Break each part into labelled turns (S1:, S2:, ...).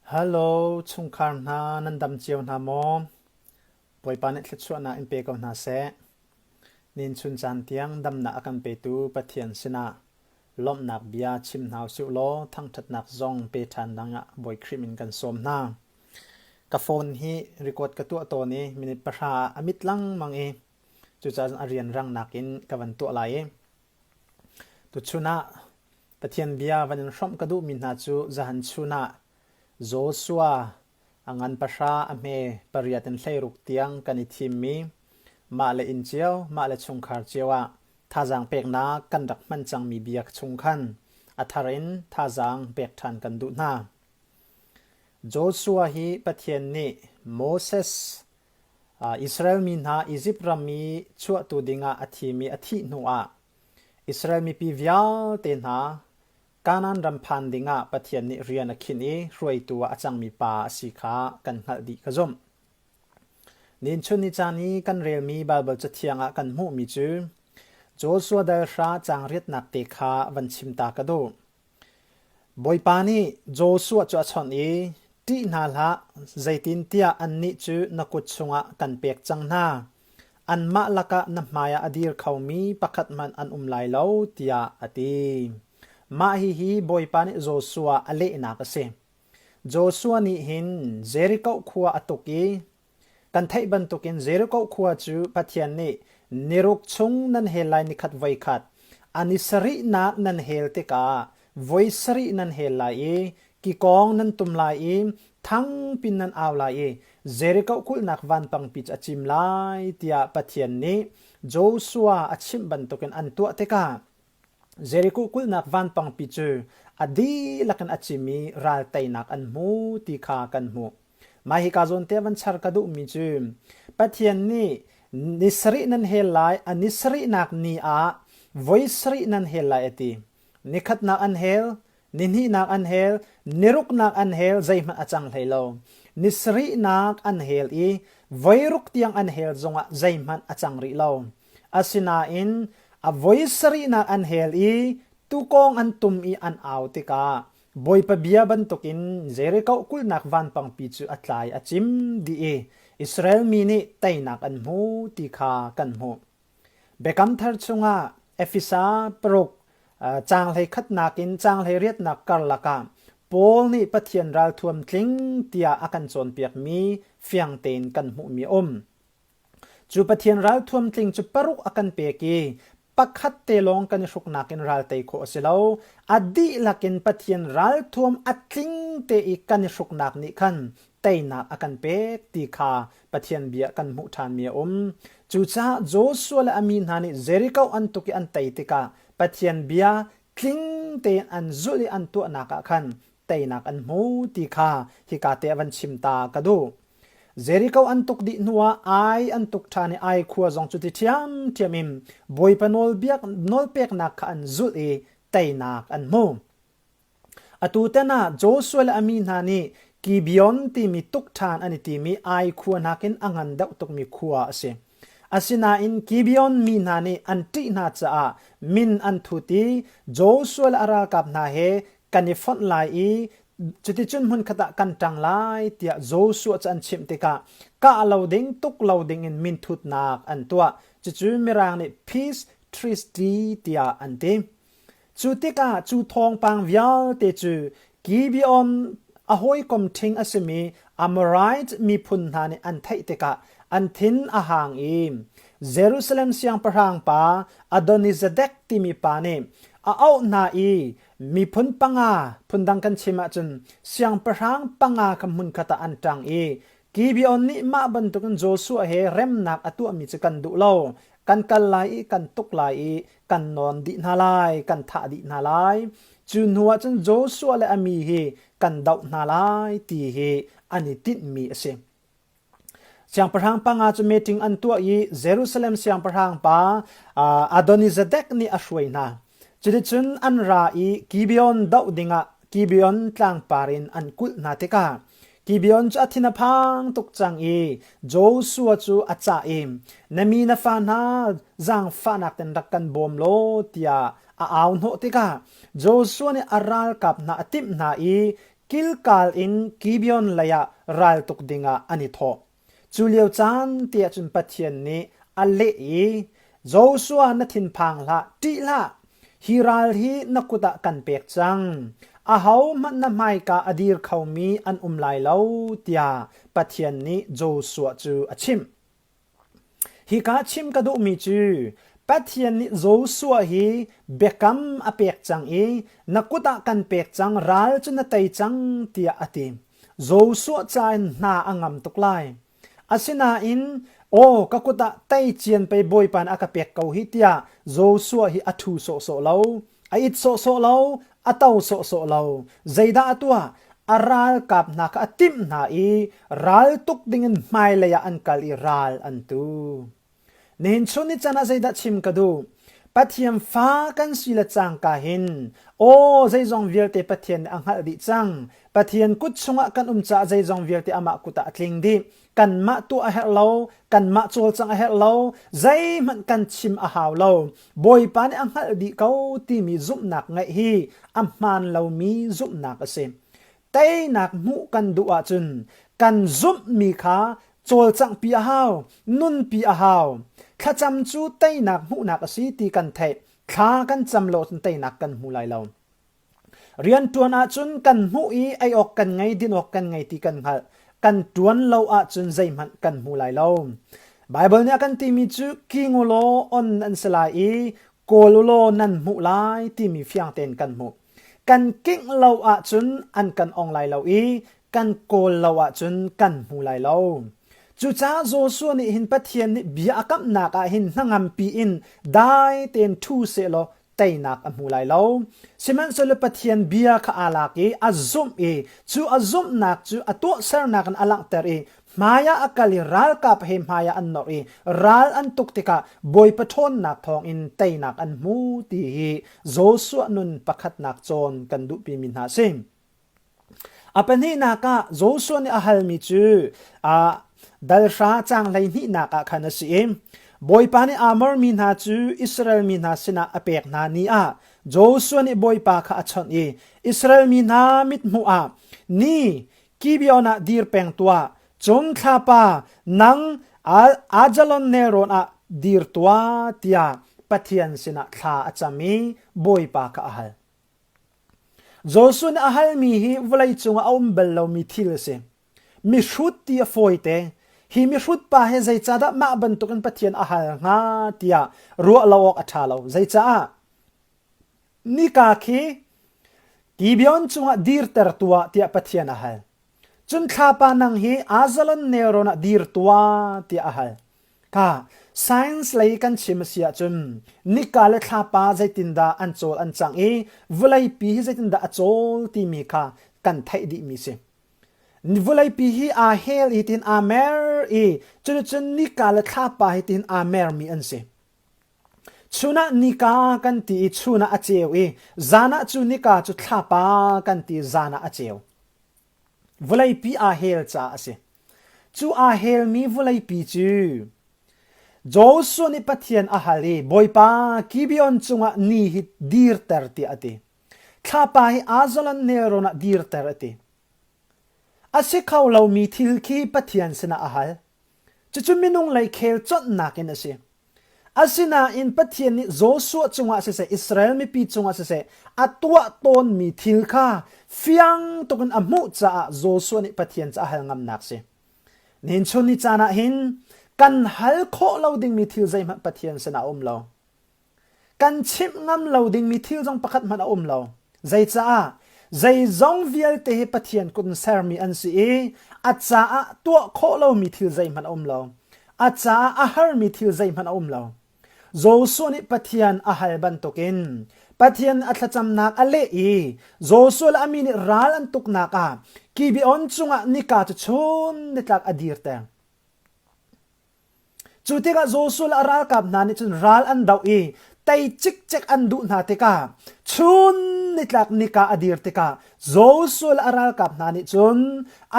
S1: Halo chungkhar hna nan dam cio hna maw? Bawipa nih thluachuahnak in pe ko hna seh. Ninchun caan tiang damnak a kan petu Pathian sinah lawmhnak bia chim hna usih law thangṭhatnak zong pe ṭhan dingah Bawi Khrih min kan sawm hna. Ka phone hi record ka tuah tawn i minute pahra ah a mit lengmang i cucaah a rianrang nakin ka van tuah lai i Tuchun ah Pathian bia van in hrawmh ka duhmi hna cu zahan chun ah Joshua a ngan pahra a hme pariat in hleiruk tiang kan i thimmi mahle inn cio mahle chungkhar cio ah thazaang peknak kan rak hman cangmi bia chung khan a thar in thazaang pek ṭhan kan duh hna. Joshua hi Pathian nih Moses Israel mi hna Izipt ram mi chuahtu dingah a thimi a thih hnuah Israel mipi vialte hna Kanaan ram phan dingah Pathian nih rian a khinh i hruaitu ah a cangmi pa a si kha kan hngalh dih ka zumh. Nichun ni caan i kan relmi Baibal cathiang ah kan hmuhmi cu Joshua dal hra caang riatnak te kha van chim ta ka duh. Bawipa nih Joshua cu a chawnh i, Ṭih hna hlah, zeitintiah annih cu na kut chungah kan pek cang hna. Anmah lakah na hmaiah a dir khomi pakhat hmanh an um lai lo, tiah a ti. Mah hihi Bawipa nih Joshua a lehnak a si: Joshua nih hin Jeriko khua a tuk i Kan theih bantukin Jericho khua cu Pathian nih ni ruk chung nan hel lai ni khat voi khat a ni sarihnak nan hel tikah voi sarih nan hel lai i kikawng nan tum lai i thangpin nan au lai i Jericho kulhnak vanpangpi cu a cim lai tiah Pathian nih Joshua a chimh bantukin an tuah tikah Jeriko kulhnak vanpangpi cu a dihlak in a cim i ral teinak an hmu ti kha kan hmuh. Mah hika zawnte van char ka duhmi cu Pathian nih ni sarih nan hel lai, a ni sarihnak ni ah voi sarih nan hel lai a ti. Ni khatnak an hel, Nihnihnak an hel, niruknak an hel zeihmanh a cang hlei lo. Nisarihnak an hel i voiruk tiang an hel zongah zeihmanh a cang rih lo. Asinain a voi sarihnak an hel i tuukawng an tum i an au tikah Bawipa bia bantukin Jericho kulhnak vanpangpi cu a tlai a cim dih i Israel mi nih teinak an hmu ti kha kan hmuh. Biakam Thar chungah Efesa paruk caang hleikhatnak in caang hleiriatnak karlak ah Paul nih Pathian ralthuam tling tiah a kan cawnpiakmi fiang tein kan hmuhmi a um. Cu Pathian ralthuam tling cu paruk a kan pek i pakhat te lawng kan i hruknak in ral tei khawh a si lo. A dihlak in Pathian ralthuam a tling te i kan i hruknak nih khan teinak a kan pek ti kha Pathian bia kan hmuh ṭhanmi a um. Cucaah Joshua le a mi hna nih Jericho an tuk i an tei tikah Pathian bia tling tein an zulh i an tuahnak ah khan teinak an hmu ti kha hika te ah van chim ta ka duh. Jericho an tuk dih hnuah Ai an tuk ṭhan i Ai khua zong cu ti ṭhiamṭhiam in Bawipa nawlbiak nawlpeknak kha an zulh i teinak an hmu. Atutan ah Joshua le a mi hna nih Gibeon timi tukṭhan an i timi Ai khua nakin a ngan deuh tukmi khua a si. Asinain Gibeon mi hna nih an ṭih hna caah min an thut i Joshua le a ralkap hna he kan i fonh lai i cuticun hmunkhat ah kan ṭang lai tiah Joshua cu an chimh tikah kah lo ding tuk lo dingin minthutnak an tuah. Cucu Mirang nih peace treaty tiah an ti. Cu tikah cu thawngpang vialte cu Gibeon a hawikom ṭhing a simi Amorite miphun hna nih an theih tikah an thin a hang i Jerusalem siangpahrang pa Adonizadek timi pa nih a auh hna i miphun panga phundang kan chim ahcun siangpahrang panga kha hmunkhat ah an ṭang i Gibeon nih mah bantukin Joshua he remnak a tuahmi cu kan duh lo. Kan kal lai i kan tuk lai i kan nawn dih hna lai, kan thah dih hna lai. Cu hnuah cun Joshua le a mi hi kan doh hna lai ti hi an i tinhmi a si. Siangpahrang panga cu meeting an tuah i Jerusalem siangpahrang pa Adonizadek nih a hruai hna. Cuticun an ra i Gibeon doh dingah Gibeon tlangpar in an kulh hna tikah Gibeon cu a thin a phang tuk cang i Joshua cu a cah i na mi na fa hna zaangfahnak in rak kan bawm law tiah a au hnawh tikah Joshua nih a ralkap hna a timh hna i Gilgal in Gibeon leiah ral tuk dingah an i thawh. Cu lio caan tiah cun Pathian nih a leh i, Joshua na thinphang hlah, ṭih hlah! Hi ral hi na kut ah kan pek cang. Ahohmanh na hmaika a dir khomi an um lai lo, tiah Pathian nih Joshua cu a chimh. Hika chim ka duhmi cu Pathian nih Joshua hi biakam a pek cang i na kut ah kan pek cang, ral cu na tei cang tiah a ti. Joshua ca in hna a ngam tuk lai. Asinain aw ka kut ah tei cian pei Bawipa nih a ka pek ko hi tiah Joshua hi a thu sawhsawh lo. A it sawhsawh lo. a to sawhsawh lo. Zeidah a tuah? A ralkap hna kha a timh hna i raltuk dingin hmailei ah an kal i ral an tu. Nihin chun ni can ah zeidah chim ka duh? Pathian fa kan si le cangka hin aw zeizong vialte Pathian nih a hngalh dih cang. Pathian kut chungah kan um caah zeizong vialte amah kut ah a tling dih. kanmah tuah a herh lo kanmah cawlcang a herh lo zeihmanh kan chim a hau lo bawipa nih a hngalh dih ko timi zumhnak ngeih hi a hmaan lomi zumhnak a si teinak hmuh kan duh ahcun kan zumhmi kha cawlcanghpi a hau nunpi a hau thlacam cu teinak hmuhnak a si ti kan theih thla kan cam lo teinak kan hmu lai lo Rianṭuan ahcun kan hmuh i ei awk kan ngei, din awk kan ngei ti kan hngalh. Kan ṭuan lo ahcun zeihmanh kan hmu lai lo. Baibal nih a kan timi cu king u law on nan si lai i kawl u law nan hmuh lai timi fiang tein kan hmuh. Kan kingh lo ahcun an kan ong lai lo i kan kawl lo ahcun kan hmu lai lo. Cucaah Joshua nih hin Pathian nih bia a kamhnak ah hin hnangampi in dai tein ṭhu sehlaw teinak a hmu lai lo. Sihmanhsehlaw Pathian bia kha aa lak i a zumh i cu a zumhnak cu a tuahsernak in a langhter i hmaiah a kal i ralkap he hmaiah an nawr i ral an tuk tikah Bawipa ṭhawnnak thawngin teinak an hmu ti hi Joshua nun pakhatnak cawn kan duhpimi hna a si. A pahnihnak ah Joshua nih a halmi cu ah dalhra caang hleihnihnak ah khan a si i Bawipa nih Amor mi hna cu Israel mi hna sinah a pek hna ni ah Joshua nih Bawipa kha a chawnh i Israel mi hna mithmuh ah ni Gibeon ah dir peng tuah cun thlapa nang Ajalon nelrawn ah dir tuah tiah Pathian sinah thla a cam i Bawipa kha a hal. Jesuh nih a halmi hi vawleicung ah a um bal lomi thil a si. Mihrut ti a fawite. Hi mihrut pa hi zeicahdah mah bantukin Pathian a hal hnga tiah ruah lo awk a ṭha lo. Zeicah? Nika khi Gibeon cungah dirtertu ah tiah Pathian a hal. Cun thlapa nang hi Ajalon nelrawn ah dir tua tiah a hal. Ka science lei kan chim a si ahcun nika le thlapa zeitindah an cawl an cang i vawleipi hi zeitindah a cawl timi kha kan theih dihmi si. Vawleipi hi aa hel i tin aa mer i cuticun nika le thlapa hi tin aa mermi an si. Chunah nika kan ti i chunah a ceu i zanah cu nika cu thlapa kan ti zanah a ceu. Vawleipi aa hel caah a si. Cu aa helmi vawleipi cu Joshua nih Pathian a hal i Bawipa Gibeon cungah ni hi dirter tiah a ti. Thlapa hi Ajalon nelrawn ah dirter a ti. A si kho lomi thil khi Pathian sinah a hal. Cucu minung lei khel chawnhnak in a si. Asinain Pathian nih Joshua cungah siseh Israel mipi cungah siseh a tuah tawnmi thil kha fiang tukin a hmuh caah Joshua nih Pathian cu a hal ngamnak a si. Nihin chun ni caan ah hin kan hal khawh lo dingmi thil zeihmanh Pathian sinah a um lo. kan chimh ngam lo dingmi thil zong pakhat hmanh a um lo. Zeicaah? Zeizong vialte hi Pathian kut in sermi an si i a caah tuah khawh lomi thil zeihmanh a um lo. A caah a harmi thil zeihmanh a um lo. Joshua nih Pathian a hal bantukin Pathian a thlacamnak a leh i Joshua le a mi nih ral an tuknak ah Gibeon cungah nika cu chun nitlak a dir teng. Cu tikah Joshua le a ralkap hna nih cun ral an doh i tei cikcek an duh hna tikah chun nitlak nika a dir tikah Joshua le a ralkap hna nih cun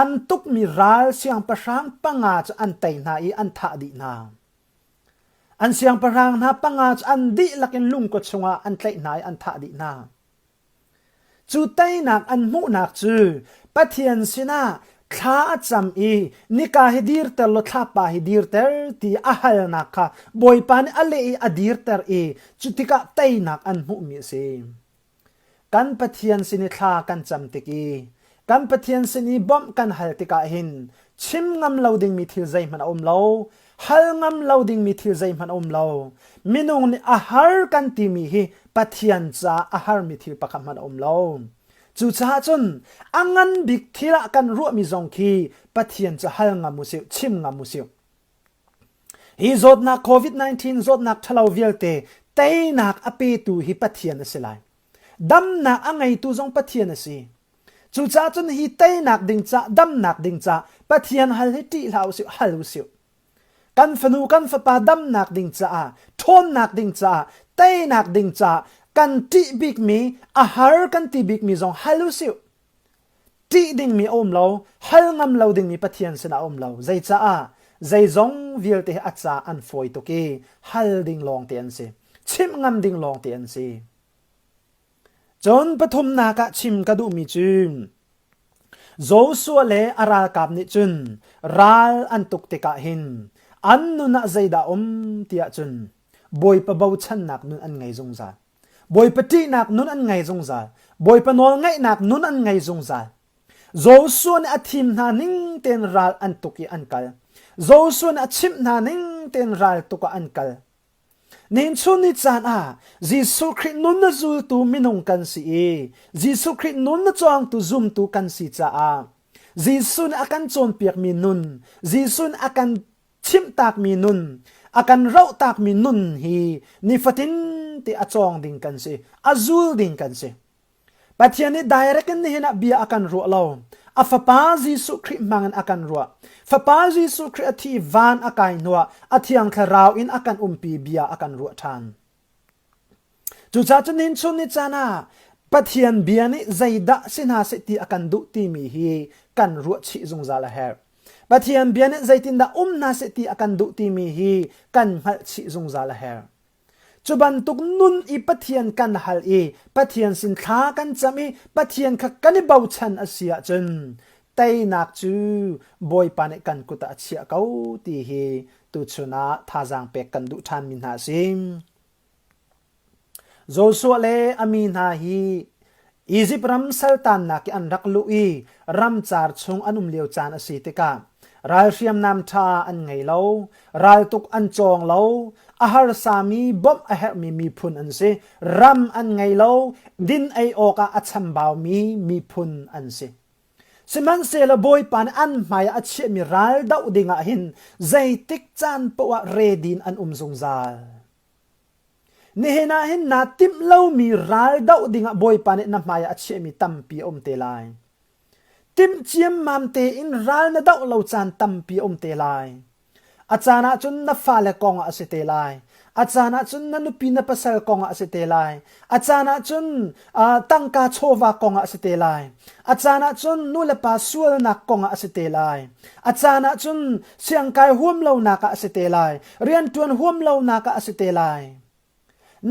S1: an tukmi ral siangpahrang panga cu an tei hna i an thah dih hna. An siangpahrang hna panga cu an dihlak in lungkua chungah an tlaih hna i an thah dih hna. Cu teinak an hmuhnak cu Pathian sinah thla a cam i nika hi dirter law thlapa hi dirter ti a halnak kha Bawipa nih a leh i a dirter i cutikah teinak an hmuhmi a si. Kan Pathian sin i thla kan cam tik i Kan Pathian sin i bawmh kan hal tikah hin chim ngam lo dingmi thil zeihmanh a um lo. Hal ngam lo dingmi thil zeihmanh a um lo. Minung nih a har kan timi hi Pathian caah a harmi thil pakhat hmanh a um lo. Cucaah cun a ngan bik thil ah kan ruahmi zong khi Pathian cu hal ngam usih, chim ngam usih. Hi zawtnak COVID-19 zawtnak ṭhalo vialte teinak a petu hi Pathian a si lai. damnak a ngeitu zong Pathian a si cucaah cun hi teinak ding ca damnak ding ca Pathian hal hi ṭih hlah usih hal usih kan fanu kan fapa damnak ding caah ṭhawnnak ding caah teinak ding caah kan ṭih bikmi a har kan ti bikmi zong hal usih ṭih dingmi a um lo, hal ngam lo dingmi Pathian sinah a um lo. Zeicaah? Zeizong vialte a ca an fawi tuk i hal ding lawngte an si. Chimh ngam ding lawngte an si. Cun pathumnak ah chim ka duhmi cu Joshua le a ralkap nih cun ral an tuk tikah hin an nun ah zeidah a um tiah cun Bawipa bochannak nun an ngei zungzal. Bawipa ṭihnak nun an ngei zungzal. Bawipa nawl ngaihnak nun an ngei zungzal. Joshua nih a thim hna ning tein ral an tuk i an kal. Joshua nih a chimh hna ning tein ral tuk ah an kal. Nihin chun ni caan ah Jesuh Khrih nun na zultu minung kan si i Jesuh Khrih nun na cawngtu zumtu kan si caah Jesuh nih a kan cawnpiakmi nun Jesuh nih a kan chimhtakmi nun a kan rohtakmi nun hi nifatin te a cawng ding kan si a zul ding kan si pathian nih direct in nihin ah bia a kan ruah lo a fapa jesuh khrih hmangin a kan ruah fapa jesuh khrih a thi van a kai hnuah a thiang thlarau in a kan umpi bia a kan ruah ṭhan Cucaah cu nin chun ni caan ah Pathian bia nih zeidah si hna seh ti a kan duh timi hi kan ruahchih zungzal a herh. Pathian bia nih zeitindah um hna seh ti a kan duh timi hi kan hngalhchih zungzal a herh. Cu bantuk nun i Pathian kan hal i Pathian sin thla kan cam i Pathian kha kan i bochan a si ahcun teinak cu bawipa nih kan kut ah a chiah ko ti hi tuchun ah thazaang pek kan duh ṭhan mi hna a si. Joshua le a mi hna hi Izipt ram saltannak i an rak luh i ramcar chung an um lio caan a si tikah ral hriamnam ṭha an ngei lo raltuk an cawng lo a harsa mi bawmh a herh mi miphun an si ram an ngei lo din ei awk ah a chambau mi miphun an si Sihmanhsehlaw Bawipa nih an hmaiah a chiahmi ral doh dingah hin zeitik caan paoh ah redin an um zungzal. Nihin ah hin naa timh lomi ral doh dingah Bawipa nih na hmaiah a chiahmi tampi a um te lai. Timh ciammam tein ral na doh lo caan tampi a um te lai. A caan ah cun na fale kongah a si te lai. A caan ah cun na nupi na pasal kongah a si te lai. A caan ah cun uh, tangka chawva kongah a si te lai. A caan ah cun nulepa sualnak kongah a si te lai. A caan ah cun siangkai huam lonak ah a si te lai. Riantuan huam lonak ah a si te lai.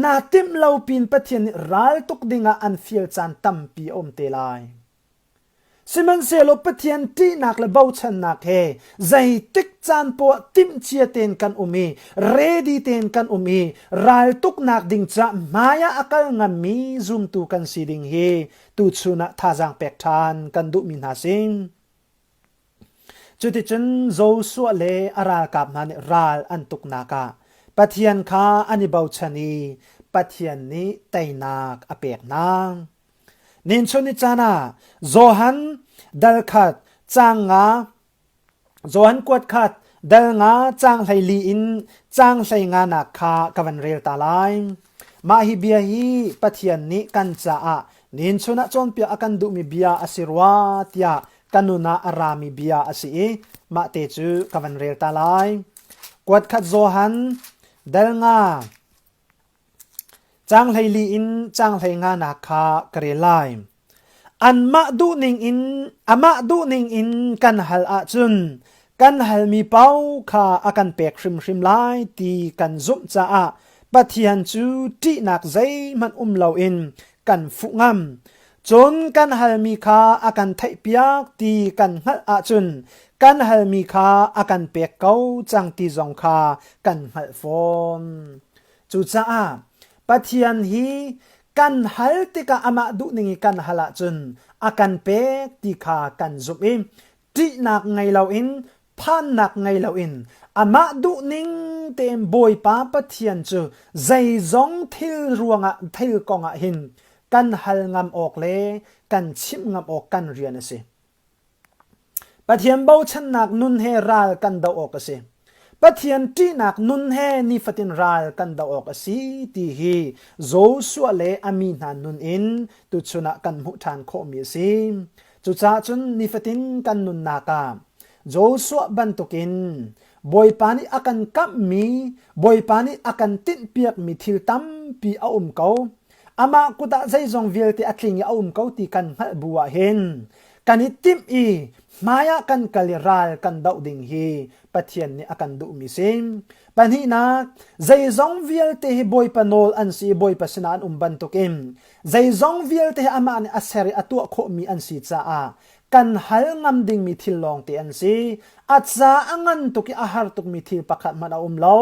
S1: Naa timh lo pin Pathian nih ral tuk dingah an fial caan tampi a um te lai. Sihmanhsehlaw Pathian ṭihnak le bochannak he zeitik caan poah timhcia tein kan um i ready tein kan um i raltuknak ding caah hmaiah a kal ngammi zumtu kan si ding hi tuchun ah thazaang pek ṭhan kan duhmi hna sin. Cuticun Joshua le a ralkap hna nih ral an tuknak ah Pathian kha an i bochan i Pathian nih teinak a pek hna. Ninchun ni caan ah Johan dal khat caang nga Johan kuat khat dal nga caang hleili in caang hlei nganak kha ka van rel ta lai. Mah hi bia hi Pathian nih kan caah ninchun ah cawnpiak a kan duhmi bia a si rua tiah ka nun ah a rami bia a si i mah te cu ka van rel ta lai. Kuat khat Johan dal nga Caang hleili in caang hleinganak kha ka rel lai. Anmah duh ningin amah duh ningin kan hal ahcun kan halmi pau kha a kan pek hrimhrim lai ti kan zumh caah Pathian cu ṭihnak zeihmanh um loin kan fuh ngam. Cun kan halmi kha a kan theihpiak ti kan hngalh ahcun kan halmi kha a kan pek ko cang ti zong kha kan hngalh fawn. Cucaah Pathian hi kan hal tikah amah duhning i kan hal ahcun a kan pek ti kha kan zumh i ṭihnak ngei loin phannak ngei loin amah duhning tein Bawipa Pathian cu zeizong thil ruangah thil kongah hin kan hal ngam awk le kan chimh ngam awk kan rian a si. Pathian bochannak nun he ral kan doh awk a si. Pathian ṭihnak nun he nifatin ral kan doh awk a si ti hi Joshua le a mi hna nun in tuchun ah kan hmuh ṭhan khawhmi a si. Cucaah cun nifatin kan nunnak ah Joshua bantukin Bawipa nih a kan kamhmi, Bawipa nih a kan tinhpiakmi thil tampi a um ko. amah kut ah zeizong vialte a tling i a um ko ti kan hngalh bu ah hin kan i timh i hmaiah kan kal i ral kan doh ding hi Pathian nih a kan duhmi si. Pahnihnak, zeizong vialte hi Bawipa nawl an si i Bawipa sinah an um bantukin zeizong vialte hi amah nih a ser i a tuah khawhmi an si caah kan hal ngam dingmi thil lawngte an si. A ca a ngan tuk i a har tukmi thil pakhat hmanh a um lo.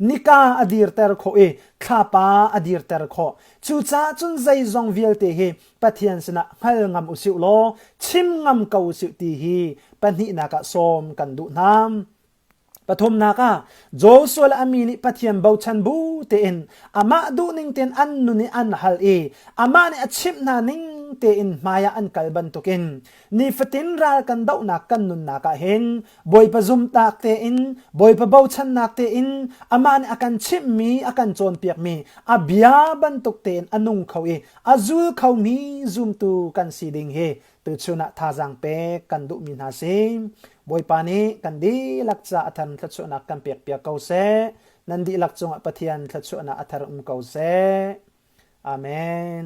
S1: Nika a dirter khawh i thlapa a dirter khawh. Cucaah cun zeizong vialte hi Pathian sinah hngal ngam usih law chim ngam ko usih ti hi pahnihnak ah sawm kan duh hna. Pathumnak ah Joshua le a mi nih Pathian bochan bu tein amah duhning tein an nun i an hal i amah nih a chimh hna ning tein hmaiah an kal bantukin nifatin ral kan dohnak kan nunnak ah hin Bawipa zumtak tein Bawipa bochannak tein amah nih a kan chimhmi a kan cawnpiakmi a bia bantuk tein a nung kho i a zul khomi zumtu kan si ding hi tuchun ah thazaang pek kan duhmi hna si bawipa nih kan dihlak ca a thar thluachuahnak kan pek piak ko seh nan dihlak cungah pathian thluachuahnak a thar um ko seh amen